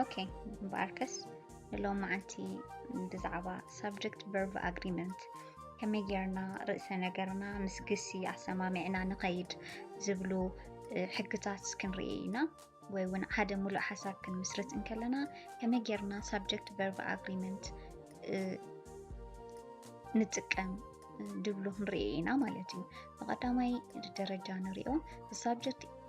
ኦኬ እምበኣርከስ ንሎም መዓልቲ ብዛዕባ ሳብጀክት ቨርቭ ኣግሪመንት ከመይ ጌርና ርእሰ ነገርና ምስ ግሲ ኣሰማሚዕና ንኸይድ ዝብሉ ሕግታት ክንርኢ ኢና ወይ እውን ሓደ ሙሉእ ሓሳብ ክንምስርት እንከለና ከመይ ጌርና ሳብጀክት ቨርቭ ኣግሪመንት ንጥቀም ድብሉ ክንርኢ ኢና ማለት እዩ። ብቐዳማይ ደረጃ ንሪኦ ሳብጀክት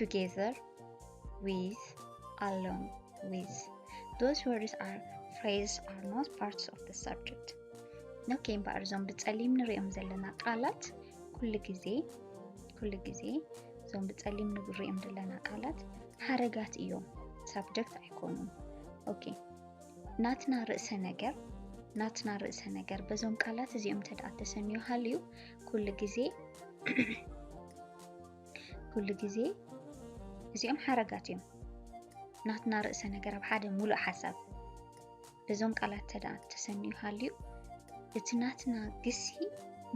together with along with those words are phrases are not parts of the subject ኦኬ እምበኣር እዞም ብፀሊም ንሪኦም ዘለና ቃላት ኩሉ ግዜ ኩሉ ግዜ እዞም ብፀሊም ንሪኦም ዘለና ቃላት ሓረጋት እዮም ሳብጀክት ኣይኮኑን ኦኬ ናትና ርእሰ ነገር ናትና ርእሰ ነገር በዞም ቃላት እዚኦም ተደኣ ተሰንዩ ሃልዩ ኩሉ ግዜ ኩሉ ግዜ እዚኦም ሓረጋት እዮም ናትና ርእሰ ነገር ኣብ ሓደ ሙሉእ ሓሳብ በዞም ቃላት ተደኣ ተሰንዩ ሃልዩ እቲ ናትና ግሲ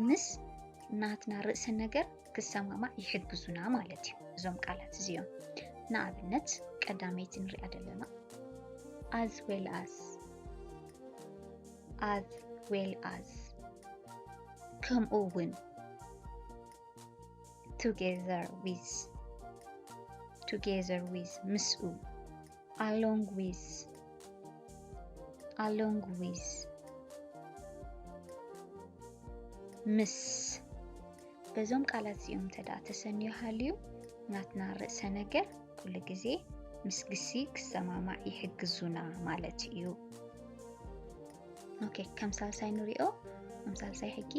ምስ ናትና ርእሰ ነገር ክሰማማዕ ይሕግዙና ማለት እዩ እዞም ቃላት እዚኦም ንኣብነት ቀዳመይቲ ንሪኣ ዘለና as well as as well as ከምኡ እውን ቱጌዘር ዊዝ ቱጌዘር ዊዝ ምስኡ ኣሎንግ ዊዝ ኣሎንግ ዊዝ ምስ በዞም ቃላት እዚኦም እንተ ተሰንዮ ሃልዩ ናትና ርእሰ ነገር ኩሉ ግዜ ምስ ግሲ ክሰማማዕ ይሕግዙና ማለት እዩ። ኦኬ ከም ሳልሳይ ንሪኦ ከም ሳልሳይ ሕጊ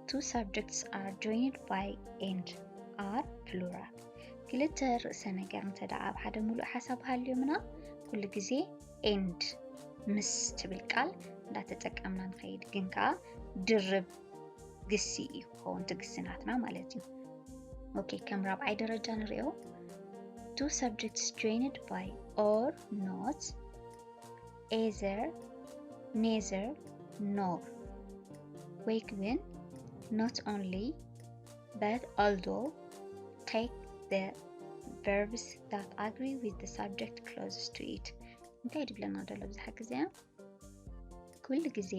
ቱ ሳብጀክትስ ኣር ጆይንድ ባይ ኤንድ ኣር ፕሉራል ክልተ ርእሰ ነገር እንተ ደኣ ኣብ ሓደ ሙሉእ ሓሳብ ሃልዮምና ኩሉ ግዜ ኤንድ ምስ ትብል ቃል እንዳተጠቀምና ንኸይድ ግን ከዓ ድርብ ግሲ እዩ ክኸውን ትግስናትና ማለት እዩ ኦኬ ከም ራብዓይ ደረጃ ንሪኦ ቱ ሳብጀክትስ ጆይንድ ባይ ኦር ኖት ኤዘር ኔዘር ኖር ወይ ክብን ኖት ኦንሊ በት ኣልዶ ቴክ ደ ቨርብስ ዳት ኣግሪ ዊዝ ደ ሳብጀክት ክሎዝስ ቱ ኢት እንታይ ድብለና ደሎ ብዝሓ ግዜ ኩሉ ግዜ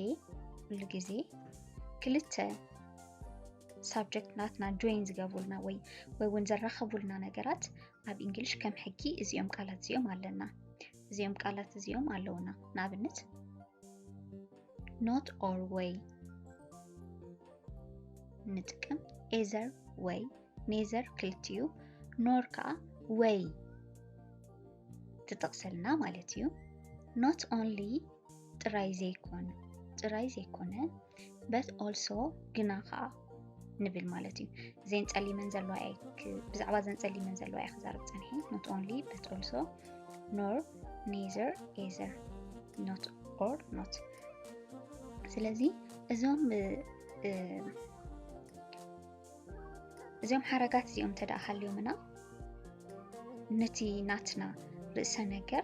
ኩሉ ግዜ ክልተ ሳብጀክት ናትና ጆይን ዝገብሩልና ወይ ወይ እውን ዘራኸቡልና ነገራት ኣብ እንግሊሽ ከም ሕጊ እዚኦም ቃላት እዚኦም ኣለና እዚኦም ቃላት እዚኦም ኣለውና ንኣብነት ኖት ኦር ወይ ንጥቀም ኤዘር ወይ ኔዘር ክልትዩ ኖር ከዓ ወይ ትጠቕሰልና ማለት እዩ ኖት ኦንሊ ጥራይ ዘይኮነ ጥራይ ዘይኮነ በት ኦልሶ ግና ከዓ ንብል ማለት እዩ ዘን ፀሊመን ዘለዋ ብዛዕባ ዘን ፀሊመን ዘለዋ እየ ክዛርብ ፀንሐ ኖት ኦንሊ በት ኦልሶ ኖር ኔዘር ኤዘር ኖት ኦር ኖት ስለዚ እዞም እዚኦም ሓረጋት እዚኦም ተደኣ ሃልዮምና ነቲ ናትና ርእሰ ነገር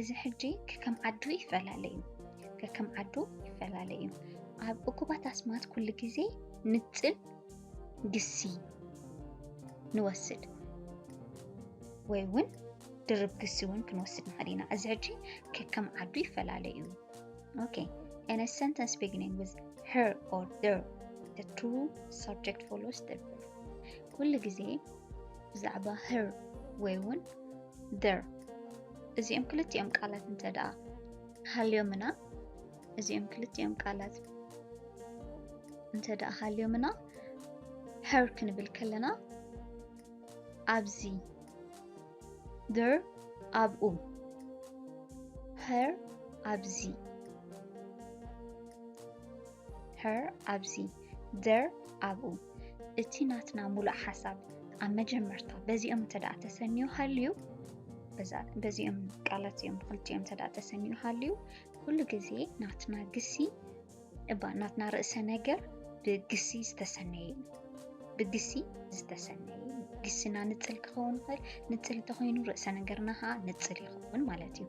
እዚ ሕጂ ከከም ዓዱ ይፈላለ እዩ ከከም ዓዱ ይፈላለ እዩ ኣብ እኩባት ኣስማት ኩሉ ግዜ ንጽል ግሲ ንወስድ ወይ እውን ድርብ ግሲ እውን ክንወስድ ንኽእል ኢና እዚ ሕጂ ከከም ዓዱ ይፈላለ እዩ ኦኬ in a sentence beginning with her or their the true subject follows the verb ኩሉ ግዜ ብዛዕባ her ወይ እውን there እዚኦም ክልቲኦም ቃላት እንተ ደኣ ሃልዮምና እዚኦም ክልቲኦም ቃላት እንተ ደኣ ሃልዮምና her ክንብል ከለና ኣብዚ there ኣብኡ her ኣብዚ her ኣብዚ there ኣብኡ እቲ ናትና ሙሉእ ሓሳብ ኣብ መጀመርታ በዚኦም እንተ ደኣ ተሰንዩ ሃልዩ በዚኦም ቃላት እዮም ብክልቲኦም እንተ ደኣ ተሰንዩ ሃልዩ ኩሉ ግዜ ናትና ግሲ እባ ናትና ርእሰ ነገር ብግሲ ዝተሰነየ እዩ ብግሲ ዝተሰነየ እዩ ግስና ንፅል ክኸውን ይኽእል ንፅል እንተኮይኑ ርእሰ ነገርና ከዓ ንፅል ይኸውን ማለት እዩ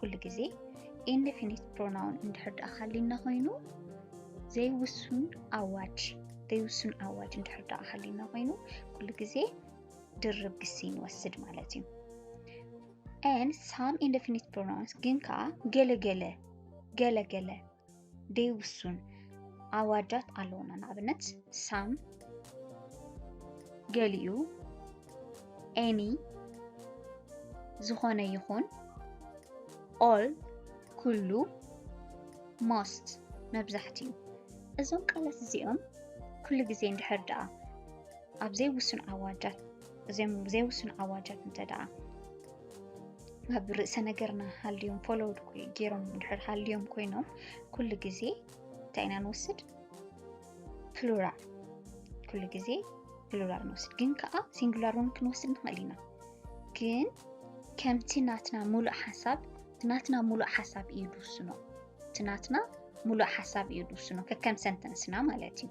ኩሉ ግዜ ኢንደፊኒት ፕሮናውን እንድሕር ደኣ ሃሊና ኮይኑ ዘይውሱን ኣዋጅ ዘይውሱን ኣዋጅ እንድሕር ደኣ ሃሊና ኮይኑ ኩሉ ግዜ ድርብ ግሲ ንወስድ ማለት እዩ ን ሳም ኢንደፊኒት ፕሮናውንስ ግን ከዓ ገለገለ ገለገለ ደይውሱን ኣዋጃት ኣለዉና ንኣብነት ሳም ገሊኡ ኤኒ ዝኾነ ይኹን ኦል ኩሉ ሞስት መብዛሕትኡ እዞም ቃላት እዚኦም ኩሉ ግዜ እንድሕር ደኣ ኣብ ዘይውሱን ኣዋጃት ዘይውሱን ኣዋጃት እንተ ደኣ ኣብ ርእሰ ነገርና ሃልዮም ፎሎውድ ገይሮም ድሕር ሃልዮም ኮይኖም ኩሉ ግዜ እንታይ ኢና ንወስድ ፕሉራል ኩሉ ግዜ ፕሉራል ንወስድ ግን ከዓ ሲንጉላር እውን ክንወስድ ንኽእል ኢና ግን ከምቲ ናትና ሙሉእ ሓሳብ ናትና ሙሉእ ሓሳብ እዩ ድውስኖ እቲ ናትና ሙሉእ ሓሳብ እዩ ድውስኖ ከከም ሰንተንስና ማለት እዩ